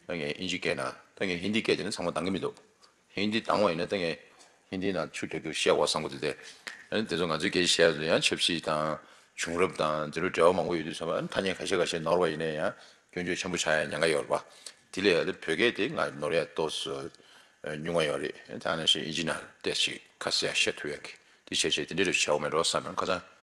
ད་ངས་ཨིན་ཇི་སྐད་ན་ད་ངས་ཧིན་དི་སྐད་ཅེས་ན་ཚང་མ་འདང་གི་མི་འདུག་ཧིན་དི་འདང་བ་ཡིན་ན་ད་ངས་ཧིན་དི་ནང་ཆུ་འདོད་རྒྱུར་བཤད་འོག་བཟང་པོ་དེ་དེ་ཨན་དེ་ཚོ་ང་ཚོའི་སྐད་ཆ་བཤད་ཡག་དུས་ཡང་ཆབ་སྲིད་དང་བྱུང་རབས་དང་དེ་ལོ་འབྲེལ་བ་མང་པོ་ཡོད་དུས་ཚང་མ་ཨན་ཐ་སྙད་ག་ཤེད་ག་ཤེད་ནོར་བ་ཡིན་ན་ཡང་སྐྱོན་བརྗོད་ཆེན་པོ་བྱ་ཡང་ཉན་ག་ཡག་རེད་པ་དེ་ལས་ཨ་བོད་སྐད་དེ་ང་ནོར་ཡག་ཏོ་སུ་ཉུང་བ་ཡོད་རེད་ཨན་ད་ཨ་ན་ཤེས་ཨིན་ཇི་ནང་བལྟས་ཅིག་ཁ་གསལ་ཡང་བཤད་ཐུབ་ཡག་གི་དེ་བྱས་བྱས་དེ་འདྲས་རེད་བྱས་འོག་མའི་འགྲོ་བ་བསམ་ཡང་ཁ་ཚང།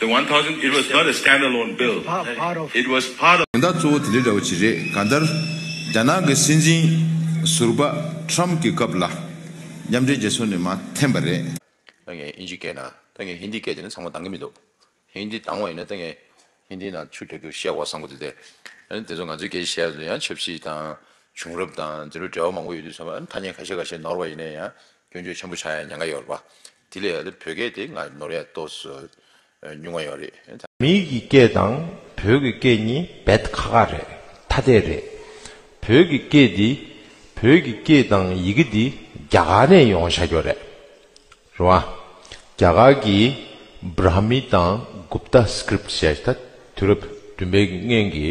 The one thousand it was not a stand alone bill it was part of དོན་དག་གཙོ་བོ་དེ་འདྲ་འདྲ་བོ་ཅིག་རེད་གང་ལྟར། རྒྱ་ནག་གི་སྲིད་འཛིན་ཟུར་པ Trump གི་སྐབས་ལ་མཉམ་འབྲེལ་རྒྱལ་ཚོགས་ནས་མ་འཐེན་པ་རེད། ད་ངས་ཨིན་ཇི་སྐད་ན་ད་ངས་ཧིན་དི་སྐད་དེ་ནི་ཚང་མ་སྡང་གི་མི་འདུག་ཧིན་དི་སྡང་བ་ཡིན་ན་ད་ངས་ཧིན་དི་ནང་ཆུ་འདྲ་རྒྱུག་བཤད་གོ་བསམ་གོ་དེ་ལྟས་ཨ་དེ་ཚོ་ང་ཚོའི་སྐད་བཤད་པ་དེ་ཡང་ཆབ་སྲིད་དང་བྱུང་རབས་དང་དེ་ལོ་འབྲེལ་བ་མང་པོ་ཡོད་དུས་ཚང་མ་ཨ་ཐ་སྙད་ག་ཤེད་ག་ཤེད་ནོར་བ་ཡིན་ན་ཡང་སྐྱོན་བརྗོད་ཆེན་པོ་བྱ་ཡང་ཉན་ག་ཡོད་རེད་པ་དེ་ལས་ལ་བོད་སྐད་དེ་སྔར་བས་ནོར་ཡ་ཏོག་སུ་ཉུང་བ་ཡོད་རེད། མིའི་གི་སྐད་དང་བོད་གི་སྐད་གཉིས་བེད་ཁ་ཁ་རེད་ཐ་དད་རེད། བོད་གི་སྐད་འདི་བོད་གི་སྐད་དང་ཡི་གེ་འདི་རྒྱ་གར་ནས་ཡོང་བྱ་རྒྱོ་རེད་རེད་བ། རྒྱ་གར་གི Brahmi དང Gupta Script ཞེས་ད་དུས་རབས་བདུན་པའི་ཀྱི་སྔན་གྱི་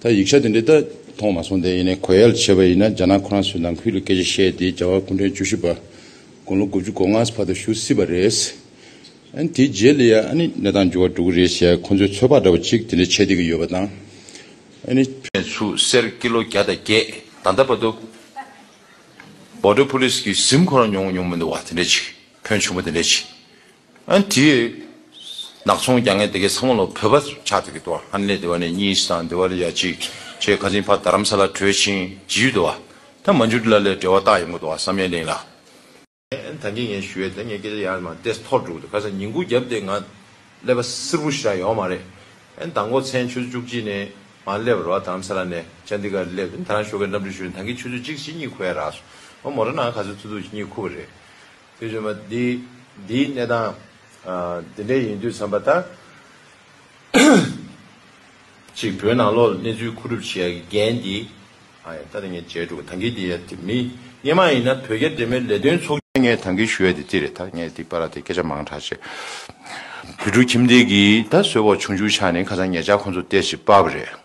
ད་ཡིག་ཆ་དེ་འདྲ་ད་མཐོང་མ་སོང་དེ་ཡིན་ནའི་གོ་ཡལ་བྱེད་པ་ཡིན་ན་རྒྱ་ནག་ཁོ་རང་ཚོའི་ནང་ཁུལ་ལ་སྐད་ཆ་བཤད་དེ་རྒྱ་བལ་གུང་ཁྲན་བཅུ་བཞི་པ་དགུང་ལོ་དགུ་བཅུ་གོ་ལྔ་བར་དུ་བཞུགས་སྲིད་པ་རེད། ཨན་དེའི་རྗེས་ལ་ཡང་ཨ་ནི་གནས་སྟངས་འགྱུར་བ་འགྲོ་གི་རེད་ཞེས་ཁོ་ཚོའི་ཚོད་དཔག་འདྲ་བ་ཅིག་དེ་འདྲ་བྱེད་བསྡད་ཀྱི་ཡོད་པ་དང་ཨ་ནི་ནས་ཆུ་སེར་ཀི་ལོ་བརྒྱ་དང་བརྒྱད་ད་ལྟ་བར་དུ Border Police གིས་གཟིམ་ཁོ་རང་མྱོང་མྱོང་མི་འདུག་བ་དེ་འདྲ་ཅིག་ཕོན་ཆུང་པོ་དེ་འདྲ་ཅིག་ཨན་དེ། ནག་ཚོང་རྒྱ་ངན་དེ་གའི་ཚང་མ་ལོ་བོད་པ་ཆགས་ཏེ་གི་དོ་ཧ་ནེ་དེ་བ་ནས་གཉིས་སི་དང་དེ་བ་ལ་ཡ་གཅིག་བྱས་ཁ་ཚིན་ཕ་དར་རམ་ས་ལ་བྲོས་ཕྱིན་ཇི་ཡུལ་དུ་བ་ད་མ་འཇུག་དེ་ལ་ལས་འབྲེལ་བ་རྟགས་ཡིན་གོ་དོ་ཧ་བསམ་ཡས་ལིང་ལ། ད་ངས་ངས་ཞུ་བས་ད་ངས་སྐད་ཆ་ཡར་མ་བལྟས་ཐོག་འགྲོ་གི་འདུག་ཁ་སང་ཉིན་གུང་རྒྱབ་སྟེ་ང་སླེབས་པ་སིར་བུ་ཞིག་རང་ཡོང་མ་རེད་ཨན་ད་མགོ་ཚན་ཆུ་ཚོད་བཅུ་གཅིག་ནས་ང་སླེབས་པར་བ་དར་རམ་ས་ལ་ནས་ཅན་དེ་ག་རེ་སླེབས་ཨན་ད་རང་ཞོགས་ཀྱི་རྣམ་འགྲེལ་ཞུ་ནས་ད་གིས་ཆུ་ཚོད་གཅིག་ཕྱིན་གཉིས་ཁུ་ཡ་རགས་སོ་ང་མོ་ར་ནང་ག་ཚོད་ཐུག་ཐུག་ཕྱིན་གཉིས་ཁུ་བ་རེད། དེ་བཞིན་པ་འདི་འདིའི་གནས་དང། དེ་འདྲའི་ཡིན་དུས་བསམ་པ་ལྟར། གཅིག་བོད་ནང་ལོགས་ལ་གནས་ཚུལ་མཁོ་སྒྲུབ་བྱེད་ཡག་གི་འགན་འདི། ད་ནས་ངས་བརྗེད་འགྲོ་གི་ཐང་གི་འདི་ཡ། མི་སྙན་མ་ཡིན་ན་བོད་རྒྱ་འབྲེལ་མོལ་ལས་དོན་ཚོགས། ངས་ཐང་གི་ཞུ་ཡ་འདི་རྩིས་རེད་ད་ངས་འདི་པ་ར་དེ་སྐད་ཆ་མང་དྲག་བྱས། བོད་ཕྲུག་ཁྱིམ་སྡེ་གིས་ད་གསོལ་བ་ཆུང་ཆུང་ཆགས་ནས་ཁ་སང་ངེད་ཅག་ཁོང་ཚོ་སྟེར་ཞིག་སྤར་བ་རེད།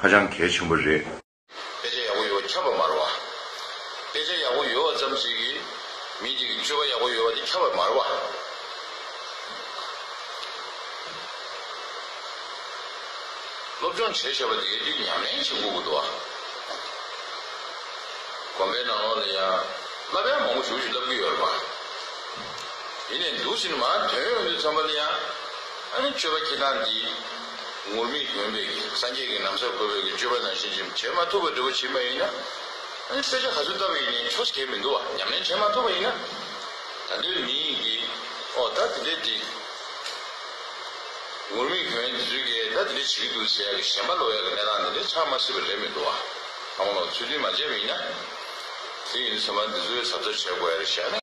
ཧ་ཅང་གལ་ཆེན་པོ་རེད། དཔེ་ཆ་ཡག་པོ་ཡོད་ཁྱབ་པར་མར་བ། དཔེ་ཆ་ཡག་པོ་ཡོད་བ་ཙམ་ཞིག་གིས་མི་གཅིག་གི་སྤྱོད་པ་ཡག་པོ་ཡོད་པ་དེ་ཁྱབ་པར་མར་བ། སློབ་སྦྱོང་བྱས་ཞེས་པ་དེའི་དུས་ཉམས་ལེན་བྱེད་འགོ་དགོས་འདུག་ཨ། དགོན་པའི་ནང་ལོགས་ལ་ཡང་བསླབ་གཡག་མང་པོ་བྱུག་བྱུག་བསླབ་གི་ཡོད་རེད་པ། ཡིན་ནས་འདུག་ཟིན་མ་དོན་ཡོང་དུས་ཚང་མ་ལ་ཡང་ཨ་ནི་སྤྱོད་པ་ཁྱེད་རང་འདི། ངུར་སྨྲིག་དགོན་པས་སངས་རྒྱས་ཀྱི་ནམ་མཚར་གོ་བའི་སྤྱོད་པ་ནང་བཞིན་བྱེད་བྱེད་མ་ཐུབ་པ་འདི་བོ་བྱིས་མ་ཡིན་ན། ཨ་ནི་སྐད་ཆ་ག་ཚོད་བཏབ་ཡིན་ནའི་ཆོ་ཞེས་མི་འདུག་བ་ཉམས་ལེན་བྱེད་མ་ཐུབ་པ་ཡིན་ན། ད་འདིར་མི་ཡིན་གྱི། ཨོ་ད་དེ་འདྲའི་དེ། ངུར་སྨྲིག་དོན་དེ་ཚོའི་སྐད་ད་དེ་འདྲའི་བྱེད་ཀྱི་འདུག་ཟེར་ཡག་གི་གཞན་པ་ལོག་ཡག་གི་གནས་སྟངས་འདི་འདྲའི་ཆགས་མ་སྲིད་པ་རེད་མི་འདུག་བ། ཨ་མ་ལགས་ཚུལ་མཐུན་མ་བྱས་པ་ཡིན་ན། དེ་ཡིན་ཟེར་མ་འདི་ཚོའི་གཟབ་གཟབ་བྱས་དགོས་ཡ་རེད་ཞག་ནས།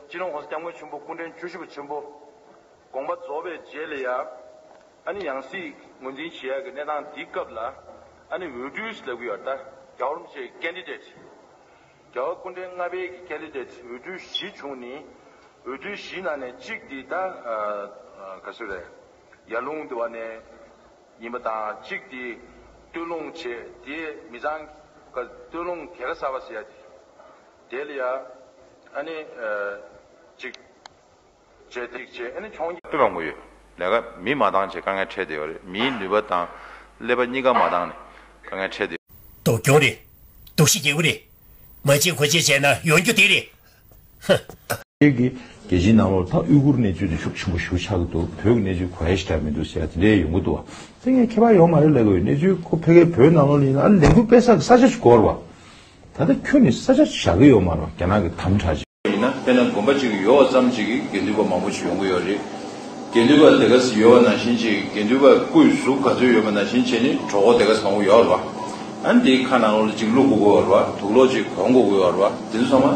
སྤྱི་ནོར ྋགོང་ས་སྐྱབས་མགོན་ཆེན་པོ་སྐུ་འཕྲེང་བཅུ་བཞི་པ་ཆེན་པོ་དགོངས་པ་རྫོགས་པའི་རྗེས་ལ་ཡང་ཨ་ནི་ཡང་སྲིད་ངོས་འཛིན་བྱེད་ཡག་གི་གནས་སྟངས་འདིའི་སྐབས་ལ་ཨ་ནི་འོས་སྤྲུལ་ཞིག་ལ་གུ་ཡར་ཏཱ་རྒྱ་བོར་མི་བྱེད Candidate རྒྱ་བོར་སྐུ་འཕྲེང་ལྔ་པའི་གི Candidate འོས་སྤྲུལ་བཞི་བྱུང་ནི་འོས་སྤྲུལ་བཞི་ནང་ནས་གཅིག་དེ་ད་ག་སུ་རེད་ཡར་ལུང་དེ་བ་ནས་ཡིན་པ་དང་གཅིག་དེ་སྟོད་ལུང་བྱེད་དེ་མི་ཚང་ག་སྟོད་ལུང་གེ་ག་ས་བ་ཟེར་ཡ་དེ། དེ་ལ་ཡང་ཨ་ནི། གཅིག། བྱེད་ཐིག་བྱེད་ཨ་ནི་འཕྱོང་རྒྱ། སྤེལ་བ་ངོ་ཡོད་ལས་ཀ་མིས་མ་འདང་བྱས་དཀའ་ངལ་འཕྲད་བསྡད་ཡོད་རེད་མིའི་ནུས་པ་དང་ཀླད་པ་གཉིས་ཀ་མ་འདང་ནས་དཀའ་ངལ་འཕྲད་བསྡད། སྡུག་གྱོང་རེད། སྡུག་ཤི་རྒྱལ་པོ་རེད། མ་བྱེད་གོ་བྱེད་བྱས་ན་ཡོང་རྒྱུ་དེ་རེད། ཧཧཧ། ཁྱེད་ཀྱིས་རྒྱལ་སྤྱིའི་ནང་ལོག་ལྟ་དབུས་གུར་གནས་ཚུལ་དེ་ཤུགས་ཆེན་པོ་ཞུ་ཆགས་ཀྱི་འདུག་བོད་ཀྱི་གནས་ཚུལ་གོ་ཧེཤ་འདྲ་མི་འདུག་ཟེར་ཡ་དེ་འདྲའི་ཡོང་གི་འདུག་བ། དེ་ངས་མཁས་པ་ཡོང་མ་རེད་ལས་ཀ་ཡོད་གནས་ཚུལ་ཁོ་ཕེ་ཁའི་བོད་ནང་ལོག་ལེན་ཡིན་ན་ཨ་ལས་འགུལ་སྤེལ་ས་གི་ས་ཆ་ཞིག་དགོས་ར་བ། ད་ལྟ་ཁྱོད་ནི་ས་ཆ་བཞག་གི་ཡོག་མ་རོག་རྒྱ་ནག་གི་དམ་དྲག་ཅིག། ཡིན་ན་དཔེ་ན་དགོན་པ་གཅིག་ཡོག་བ་ཙམ་གཅིག་གིས་དགེ་འདུན་པ་མང་པོ་ཞིག་ཡོང་གི་ཡོག་རེད། དགེ་འདུན་པ་དེ་ག་ས་ཡོག་བ་ནང་བཞིན་ཅིག་དགེ་འདུན་པ་སྐུ་ཡི་གཟུགས་ག་ཚོད་ཡོད་པ་ནང་བཞིན་ཅིག་ནི་གྲོགས་པོ་དེ་ག་ས་མང་པོ་ཡོག་རེད་བ། ཨ་ནི་དེའི་ཁ་ནང་ལོག་ཅིག་བླུག་དགོ་གི་ཡོག་རེད་བ་དུག་ལོག་ཅིག་གོན་དགོ་གི་ཡོག་རེད་བ་དེ་ཚོ་ཚང་མ།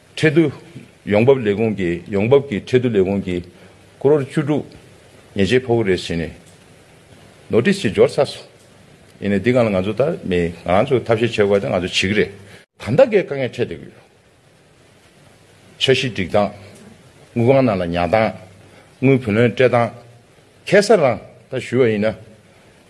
ཁྲལ་བསྡུ་ཡོང་འབབ་ལས་ཁུངས་ཀྱིས་ཡོང་འབབ་ཀྱི་ཁྲལ་བསྡུ་ལས་ཁུངས་ཀྱིས་ཀོ་རོར་བཅུ་དྲུག་ཉེས་ཆད་ཕོག་རེས་བྱས་ནས་ནོར་ཏིས་ཀྱི་འབྱོར་ཚར་སོང། ཡིན་ནའི་འདི་གང་ལ་ང་ཚོ་ལྟར་མི་ང་ཚོས་ཐབས་ཤེས་བྱེད་དགོས་པ་དེ་ང་ཚོས་བྱེད་ཀྱི་རེད། གང་དག་གིས་དཀའ་ངལ་འཕྲད་བསྡད་ཀྱི་ཡོད། འཆར་གཞི་སྒྲིག་སྟངས། དངུལ་གང་ནང་ལ་ཉར་སྟངས། དངུལ་བུན་ལོན་སྤྲད་སྟངས། ཁེ་སར་རང་ད་ཞུས་པ་ཡིན་ན།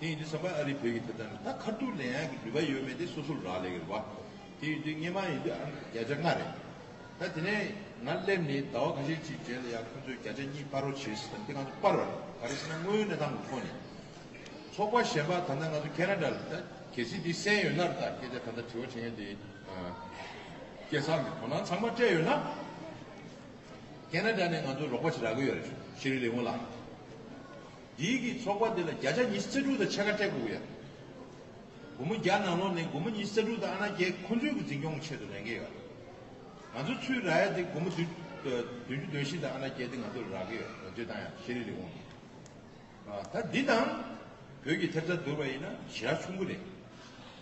དེ་ཡིན་དུས་ས་པ་ཨ་རིས་བོད་ཀྱི་ཐོབ་ཐང་ལ་ད་ཁར་ཐུག་ལེན་ཡག་གི་ནུས་པ་ཡོད་མེད་དེ་སོ་སོར་རག་ལས་གི་རེད་བ། དེ་ཡིན་དུས་སྔས་མ་ཡིན་དུས་ཨ་རིར་བརྒྱ་ཆ་ལྔ་རེད། ད་དེ་ནས་ང་སླེབས་ནས་ཟླ་བ་ཁ་ཤས་ཅིག་རྗེས་ལ་ཡང་ཁོང་ཚོས་བརྒྱ་ཆ་གཉིས་སྤར་རོགས་བྱེད་ཟེར་དམ་དེ་ང་ཚོ་སྤར་བ་རེད་ག་རེ་ཟེར་ན་དངོས་ཡོད་གནས་སྟངས་ཀྱི་ཐོག་ནས། ཚོགས་པ་གཞན་པ་ད་ལྟ་ང་ཚོ་ཁེ་ན་དྲ་ལ་ད་གལ་སྲིད་དེ་གསན་ཡོད་ན་རེད་ད་སྐད་ཆ་ད་ལྟ་དྲི་བ་དྲིས་མཁན་དེ་སྐད་གསང་གི་དོ་སྣང་ཚང་མ་སྤྲད་ཡོད་ན། ཁེ་ན་དྲ་ནས་ང་ཚོ་རོགས་པ་བྱེད་རག་གི་ཡོད་རེད་ཤེས་རིག་ལས་ཁུངས་ལ། འདིའི་གིས་ཚོགས་པ་འདི་ལ་བརྒྱ་ཆ་ཉི་ཤུ་རྩ་དྲུག་དང་ཕྱེད་ཀ་སྤྲད་དགོས་ཡོད། སྒོར་མོ་བརྒྱ་ནང་ལོགས་ནས་སྒོར་མོ་ཉི་ཤུ་རྩ་དྲུག་དང་ཨ་ན་རྒྱལ་ཁོ་ཚོའི་གི་འཛིན་སྐྱོང་གི་ཆེད་དུ་ལེན་གི་ཡོད། ང་ཚོ་ཚུའི་ར་ཡ་འདི་སྒོར་མོ་བདུན་བདུན་ཅུ་འདོན་བཞིན་དང་ཨ་ན་རྒྱལ་འདི་ང་ཚོ་རག་གི་ཡོད་འདོད་དང་ཡང་ཤེས་རིག་ལས་ཁུངས་ཀྱིས། ད་འདི་དང། བོད་ཀྱི་ཐེབས་རྩ་བསྡུར་བ་ཡིན་ན་ཞེ་དྲག་ཆུང་གི་རེད།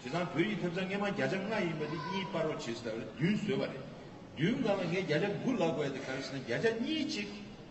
དེ་དང་བོད་ཀྱི་ཐེབས་རྩ་སྔས་མ་བརྒྱ་ཆ་ལྔ་ཡིན་པ་འདི་གཉིས་སྤར་བར་བྱེད་སྲིད་ད་བར་བདུན་བཟོས་པ་རེད། བདུན་གང་ལ་ངས་བརྒྱ་ཆ་དགུ་ལག་པ་ཡོད་དེ་ག་རེ་བྱས་ན་བརྒྱ་ཆ་གཉིས་གཅིག་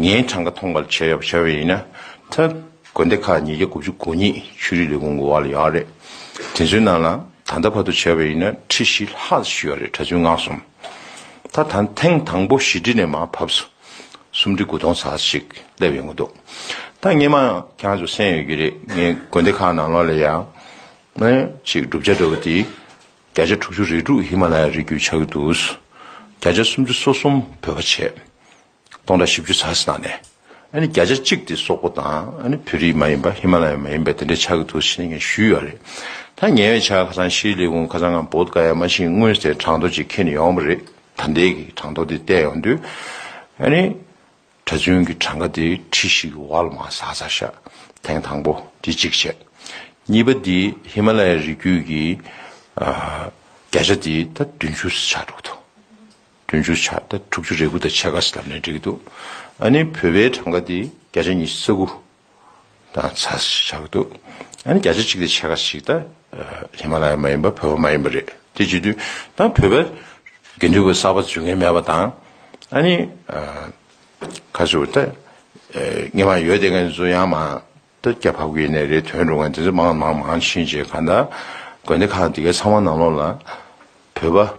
ངའི་གྲངས་ཀ་ཐོངས་པར་བྱས་ཡོད་པ་བྱས་པ་ཡིན་ན། ཐཱན་དགོན་སྡེ་ཁག་ཉིས་བརྒྱ་དགུ་བཅུ་གོ་གཉིས་ཆོས་རིག་ལས་ཁུངས་འགོ་བ་ལ་ཡོད་རེད། དེ་ཚོའི་ནང་ལ་ད་ལྟ་བར་དུ་བྱས་པ་ཡིན་ན་ཁྲི་བཞི་ལྷག་བཞུས་ཡོད་རེད་གྲྭ་བཙུན་སྔགས་གསུམ། ད་ཐཱན་ཐེངས་དང་པོ་བཞི་ཁྲི་ནས་མ་བབས་སོ། སུམ་ཁྲི་དགུ་སྟོང་ཟག་ས་ཞིག་སླེབས་ཡོང་གི་འདུག་ད་སྔས་མ་ཁྱང་ཚོ་གསན་ཡོད་ཀྱི་རེད་ངའི་དགོན་སྡེ་ཁག་ནང་ལོགས་ལ་ཡང། ནཱན་ཅིག་བསྒྲུབ་བྱ་འགྲོ་བ་དེ། བརྒྱ་ཆ་དྲུག་ཅུ་རེ་དྲུག་ཧི་མ་ལ་ཡ་རི་རྒྱུད་ཆགས་ཀྱི་འདུག། བརྒྱ་ཆ་སུམ་ཅུ་སོ་གསུམ་བོད་པ་བྱས། སྟོང་དང་བཞི་བཅུ་ཚ་ཟེར་ནའང་ནས། བརྒྱ་ཆ་གཅིག་དེ་སོག་པོ་དང་བོད་རིགས་མ་ཡིན་པ་ཧི་མ་ལ་ཡ་མ་ཡིན་པ་དེ་འདྲའི་ཆགས་ཀྱི་འདུག་ཟེར་ནས་ཞུས་ཡོད་རེད། ད་ཉེ་བའི་ཆར་ཁ་སང་ཤི་ལི་ཝུན་ཁ་སང་ངམ་བོད་ཀ་ཡ་མ་ཞིག་དངུལ་ཟེར་གྲངས་ཐོ་ཅིག་ཁྱེར་ནས་ཡོང་བ་རེད་ད་འདས་ཀྱི་གྲངས་ཐོ་དེ་བལྟས་ཡོང་དུས། གྲྭ་བཙུན་གྱི་གྲངས་ཀ་དེ་ཁྲི་ཞིག་གི་བར་ལ་མ་ཟ་ཟ་ཤ་ཐེངས་དང་པོ་དེ་གཅིག་བྱས། གཉིས་པ་དེ་ཧི་མ་ལ་ཡའི་རི་རྒྱུད་ཀྱི་བརྒྱ་ཆ་དེ་ད་བདུན་ཅུ་ཟེར་ཆགས་འགྲོ་གི་འདུག། དུས་མཇུག་ཆ་ད་དྲུག་ཅུ་རེ་དགུ་དང་ཕྱེད་ཀ་ཟླ་ནས་འགྲིག་གི་འདུག་ཨ་ནི་བོད་པའི་གྲངས་ཀ་དེ་བརྒྱ་ཆ་གཉིས་ས་དགུ་དང་ཚ་ཞེས་བྱ་གི་འདུག་ཨ་ནི་བརྒྱ་ཆ་གཅིག་དང་ཕྱེད་ཀ་ཞིག་ད་ཧི་མ་ལ་ཡ་མ་ཡིན་པ་བོད་པ་མ་ཡིན་པ་རེད་དེ་བྱེད་དུས་ད་བོད་པ་དགེ་འདུན་པ་གསར་པ་འཛུལ་མཁན་མེད་པ་དང་ཨ་ནི་ཁ་ཟུར་ད་ངེད་མ་ཡོད་དེ་ངེད་ཚོ་ཡང་མ་ད་རྒྱ་བྷ་གུ་ཡེ་ནས་རེད་དོན་འགྲུབ་མཁན་དེ་ཚོ་མང་མང་མང་ཕྱིན་རྗེས་ག་ད་དགོན་སྡེ་ཁག་འདི་ག་ཚང་མ་ནང་ལོགས་ལ་བོད་པ་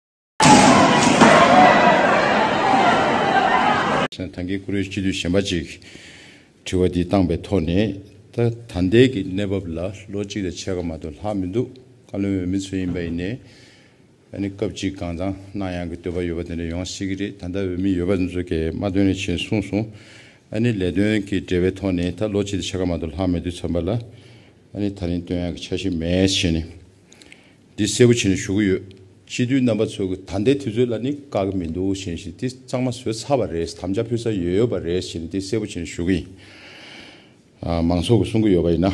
ཐང་གའི་ཀུ་རེ་སྤྱི་འཐུས་གཞན་པ་གཅིག་དྲི་བ་འདི་བཏང་པའི་ཐོག་ནས། ད་ལྟའི་གི་གནས་བབ་ལ་ལོ་གཅིག་ལས་ཆེ་ག་མ་གཏོགས་ལྷག་མི་འདུག་བཀའ་བློན་འོས་མི་ཚོ་ཡིན་པ་ཡིན་ནས། ཨ་ནི་སྐབས་གཅིག་གང་ཙང་གནང་ཡང་གི་འདོད་པ་ཡོད་པ་དེ་འདྲ་ཡོང་སྲིད་གི་རེད་ད་ལྟ་འོས་མི་ཡོད་པ་དེ་ཚོ་གས་མ་བཏོན་ལས་ཆེ་གསུངས་སོང། ཨ་ནི་ལས་དོན་གི་འབྲེལ་བའི་ཐོག་ནས་ད་ལོ་གཅིག་ལས་ཆེ་ག་མ་གཏོགས་ལྷག་མི་འདུག་ཚང་པ་ལ་ཨ་ནི་ད་རིང་བཏོན་ཡང་གི་ཆ་ཞིག་མེད་བྱས་ནས། འདི་གསལ་པོ་བྱེད་ནས་ཞུ་གི་ཡོད། སྤྱི་འཐུས་རྣམ་པ་ཚོས་གི་ད་ལྟའི་དུས་ཚོད་ལ་ནི་དཀའ་གི་མི་འདུག་བཞིན་བཞིན་འདི་གཙང་མ་བཟོས་ཚར་བ་རེད་དམ་བཅའ་ཕུལ་ས་ཡོད་ཡོད་པ་རེད་བཞིན་འདི་གསལ་པོ་བྱེད་ནས་ཞུ་གི་ཡིན། མང་ཚོགས་ཀྱི་གསུང་གི་ཡོད་པ་ཡིན་ན།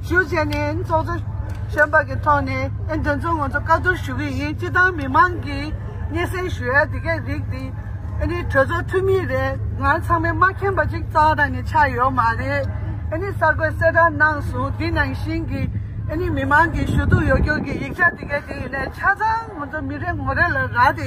ཞུ་བྱས་ནས་ཚོགས་གཙོ་གཞོན་པ་གི་ཐོག་ནས་ཨན་དོན་ཚོ་ང་ཚོ་བཀའ་བསྡུར་ཞུ་གི་ཡིན་སྤྱི་དང་མི་མང་གི་སྙན་སེང་ཞུ་ཡ་དེ་གས་རིགས་དེ་ཨ་ནི་གྲོས་ཚོགས་འཐུས་མི་རེད་ང་ཚང་མའི་མ་མཁྱེན་པ་ཅིག་ཙང་རང་ནས་ཆགས་ཡོད་མ་རེད་ཨ་ནི་གསར་འགོད་གསལ་བསྒྲགས་གནང་སོང་དེ་ནང་བཞིན་གི་ཨ་ནི་མི་མང་གི་ཞུ་གཏུག་ཡོ་རྒྱུགས་གི་ཡིག་ཆ་དེ་གས་དེ་ཡིན་ན་ཆ་ཚང་ང་ཚོ་མི་རེ་ངོ་རེ་ལ་རག་དེ།